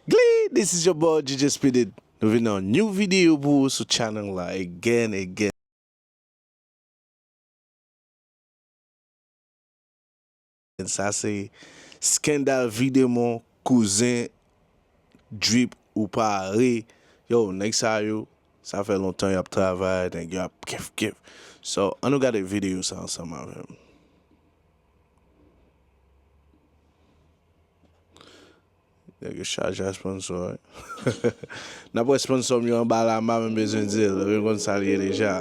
Glee this is your boy DJ Speeded nou vin nan new video pou ou sou channel la again again. Sa se Scandal videmon kouzen drip ou pa re yow nèg sa yo sa fè lontan yap travay nèg yo ap kif kif so an nou gade video sa ansanm avèm. Nèg yo chaje a sponsor wi. Nap wè sponsor m yo anba la m pa menm bezwen di l, yo konn sa l ye deja.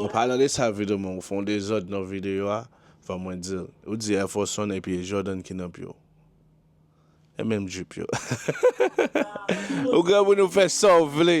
An palan de sa Vido man ou fè yon dezòd nan videyo a fò mwen dil. Ou di Air Force One epi e Jordan ki nan pye w. E menm jup yo. Ou granmoun ou fè sa w vle.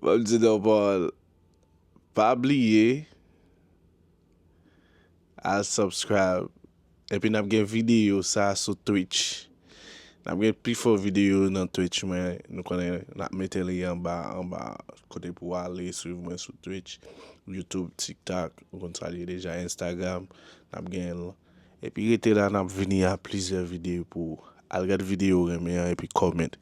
Map di non Paul pa bliye al subscribe epi nap gen video sa sou twitch nap gen pi fo video yo nan twitch mwen nou konnen nap mete li anba anba kote pou ale swiv mwen sou twitch youtube tiktok ou konn sa liye deja instagram nap genl epi rete la nap vini a plizyè video pou ou al gad video ou renmen an epi comment.